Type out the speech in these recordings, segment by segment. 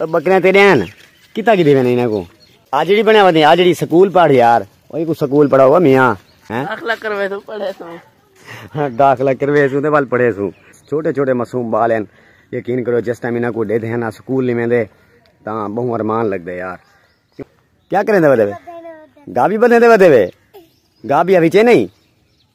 بکریاں تیرے ہیں کتا کی دیوے نہیں کو آ جڑی بنے ودی آ جڑی سکول پڑھ یار اوہی کو سکول پڑھا ہوا میاں ہاں؟ داخلہ کروے سو پڑھے سو ہاں، داخلہ کروے سو تے بال پڑھے سو چھوٹے چھوٹے معصوم بال ہیں یقین کرو جس ٹائم انہاں کو دے دے نا سکول نہیں ویندے تاں بہوں ارمان لگ دے یار کیا کریں دے ودے گابی بدے دے ودے گابی ابھی چے نہیں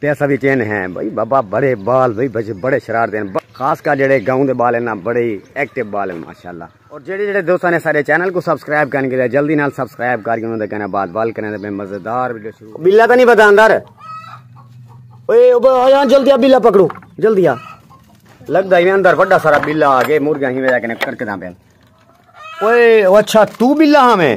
تے اساں وی کین ہیں بھئی بابا بڑے بال بھئی بچے بڑے شرارتی ہیں خاص کر جیڑے گاؤں دے بال ہیں نا بڑے ہی ایکٹیو بال ہیں ماشاءاللہ اور جیڑے جیڑے دوستاں نے سارے چینل کو سبسکرائب کرن کیتے جلدی نال سبسکرائب کر کے انہاں دے کہنے بعد بال کرنے تے مزیدار ویڈیو شروع بلا تے نہیں پتا اندر اوئے اوئے جلدی آ بلا پکڑو جلدی آ لگدا ہی اندر بڑا سارا بلا آ گئے مرغیاں ہی وجہ کنے کرکداں پین اوئے اچھا تو بلا ہاں میں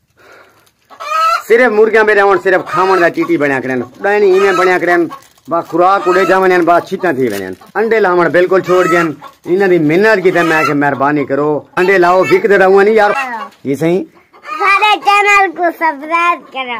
صرف مرغیاں میرے ہون صرف کھاون دا چیٹی بنیا کرن ڈائنی ایویں بنیا کرن با خوراک اڑے جاون ان با چھتاں تھی ونن انڈے لاون بالکل چھوڑ گئے انہاں دی منت کی تے میں کہ مہربانی کرو انڈے لاؤ وک دے رہو نہیں یار یہ صحیح سارے چینل کو سبسکرائب کرو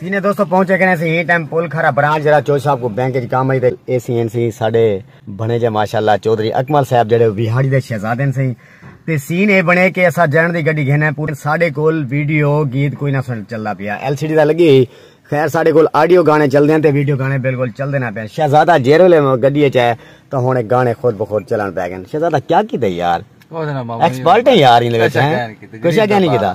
سینے دوستو پہنچے گئے سی ہی ٹائم پول کھرا برانچ جڑا چوہدری صاحب کو بینک وچ کام ہئی تے اے سی این سی ساڈے بنے جے ماشاءاللہ چوہدری اکمل صاحب جڑے ویہاڑی دے شہزادے سی تے سین اے بنے کہ اسا جنڑ دی گڈی گھن پورے ساڈے کول ویڈیو گیت کوئی نہ سن چلدا پیا ایل سی ڈی دا لگی ہئی خیر ساڈے کول آڈیو گانے چلدے ہیں تے ویڈیو گانے بالکل چلدے نہ پین شہزادہ جیرے لے گڈی اچ ہے تو ہن گانے خود بخود چلن پے گئے شہزادہ کیا کیتے یار ایکسپرٹ ہیں یار ان وچ ہیں کچھ کیا نہیں کیتا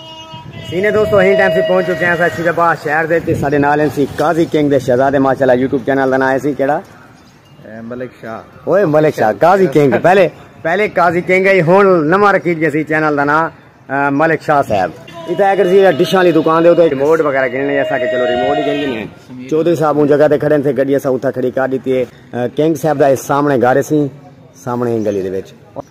سینے دوستو ہین ٹائم سے پہنچ چکے ہیں سا شیدہ باہ شہر دے تے ساڑے نالیں سی قاضی کنگ دے شہزادے ماشاءاللہ یوٹیوب چینل دن آئے سی کیڑا ملک شاہ اوئے ملک شاہ قاضی کنگ پہلے پہلے قاضی کنگ ہے ہون نمہ رکھیل گیا سی چینل دن آئے ملک شاہ صاحب اتھا اگر سی ڈشان لی دکان دے ہوتا ہے ریموٹ وغیرہ گنے لیا سا کہ چلو ریموٹ ہی گنے لیا چودری صاحب ان جگہ دے کھڑے تھے گڑی ایسا اتھا کھڑی کار دیتی ہے کنگ صاحب دا سامنے گارے سی سامنے ہی گلی دے بیچ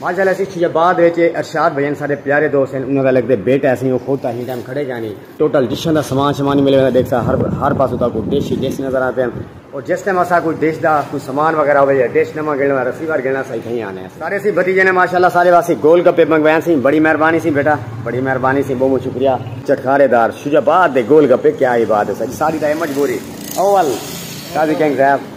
ماشاء اللہ اسی چھیا بعد وچ ارشاد بھائی ہن سارے پیارے دوست ہیں انہاں دا لگدے بیٹا اسی او خود تاہی ٹائم کھڑے گئے نہیں ٹوٹل ڈشاں دا سامان شمان ملے ویلا دیکھ سا ہر ہر پاس ہوتا کوئی ڈش ہی ڈش نظر آتے ہیں اور جس ٹائم اسا کوئی ڈش دا کوئی سامان وغیرہ ہوے یا ڈش نما گلنا رسی وار گلنا صحیح کہیں آنے ہیں سارے سی بھتیجے نے ماشاءاللہ سارے واسے گول گپے منگوائیں سی بڑی مہربانی سی بیٹا بڑی مہربانی سی بہت شکریہ چٹکارے دار شجاباد دے گول گپے کیا عبادت ہے ساری دا مجبوری اول قاضی کنگ صاحب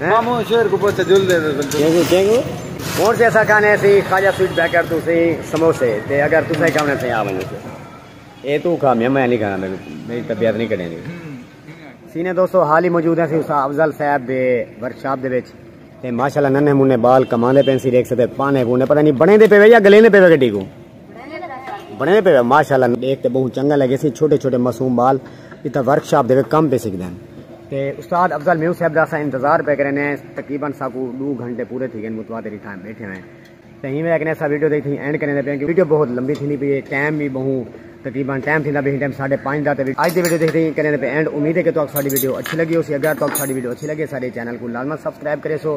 مامو شیر کو پوچھا جل دے دے بلکل کیوں کیوں ہن تے اسا کھانے سی خواجہ سویٹ بیکر تو سی سموسے تے اگر تساں کھاونے تے آ ونجو سی اے تو کھا میں میں نہیں کھانا میری طبیعت نہیں کڈے نہیں سینے دوستو حال ہی موجود ہیں سی اس افضل صاحب دے ورکشاپ دے وچ تے ماشاءاللہ ننے منے بال کماندے پین سی دیکھ سکتے پانے پونے پتہ نہیں بنے دے پے یا گلے دے پے گڈی کو بنے پہ ماشاءاللہ دیکھ تے بہت چنگا لگے سی چھوٹے چھوٹے معصوم بال اتھا ورک شاپ دے کم پہ سکھ دین تے استاد افضل میو صاحب دا اسا انتظار پہ کرے نے تقریبا ساکو دو گھنٹے پورے تھی گئے متواتر اتھا بیٹھے ہوئے تے ہی میں اکنے اسا ویڈیو دے تھی اینڈ کرنے دے پہ ویڈیو بہت لمبی تھی نہیں پی ٹائم بھی بہت تقریبا ٹائم تھی دا بھی ٹائم ساڑھے پانچ دا تے اج دی ویڈیو دیکھ تھی کرنے دے پہ اینڈ امید ہے کہ تو ساڑی ویڈیو اچھی لگی ہو سی اگر تو ساڑی ویڈیو اچھی لگے ساڑے چینل کو لازما سبسکرائب کرے سو